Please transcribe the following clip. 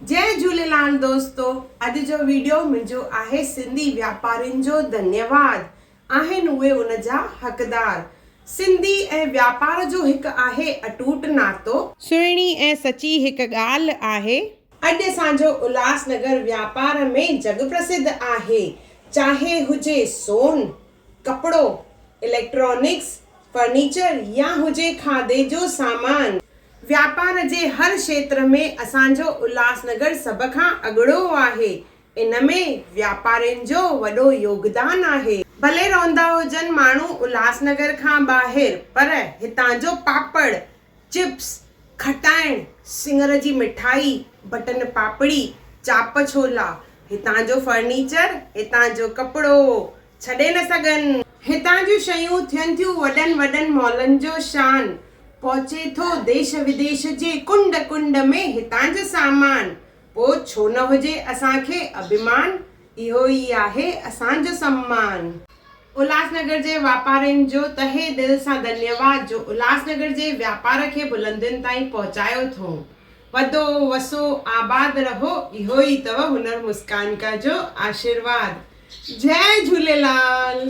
جئي جهوليلال دوستو اڄ جو ويڊيو منهنجو آهي سنڌي واپارين جو ڌنيواد آهن اهي ان جا حقدار سنڌي ۽ واپار جو هڪ آهي اٽوٽ ناتو. سهڻي ۽ سچي هڪ ڳالهه آهي. اڄ اسان جو الهاس نگر واپار ۾ جڳ پرسڌ آهي چاهي هجي سون. ڪپڙو، اليڪٽرانڪس، فرنيچر يا هجي کاڌي جو سامان. واپار جي هر کيتر ۾ اسان جو الهاسنگر سڀ کان اڳڙو آهي. ان ۾ واپارين جو وڏو يوگدان آهي. ڀلي رهندا هجن ماڻهو الهاسنگر کان ٻاهر پر هتان جو پاپڙ، چپس، کٽائڻ، سڱر جي مٺائي، بٽن پاپڙي، چاپ ڇولا، هتان جو فرنيچر، هتان جو ڪپڙو ڇڏي نه سگهن. هتان جون شيون ٿين ٿيون وڏن وڏن مالن جو شان، پهچي ٿو ديش وديش جي ڪنڊ ڪنڊ ۾ هتان جو سامان، پوء ڇو نه هجي اسان کي اڀيمان. اهو ئي آهي اسان جو سمان. الهاسنگر جي واپارين جو تهه دل سان ڌنيواد جو الهاسنگر جي واپار کي بلندين تائين پهچايو ٿئون. وڌو وسو آباد رهو اهو ئي اٿو هنر مسڪان ڪا جو آشيرواد. جئه جهوليلال.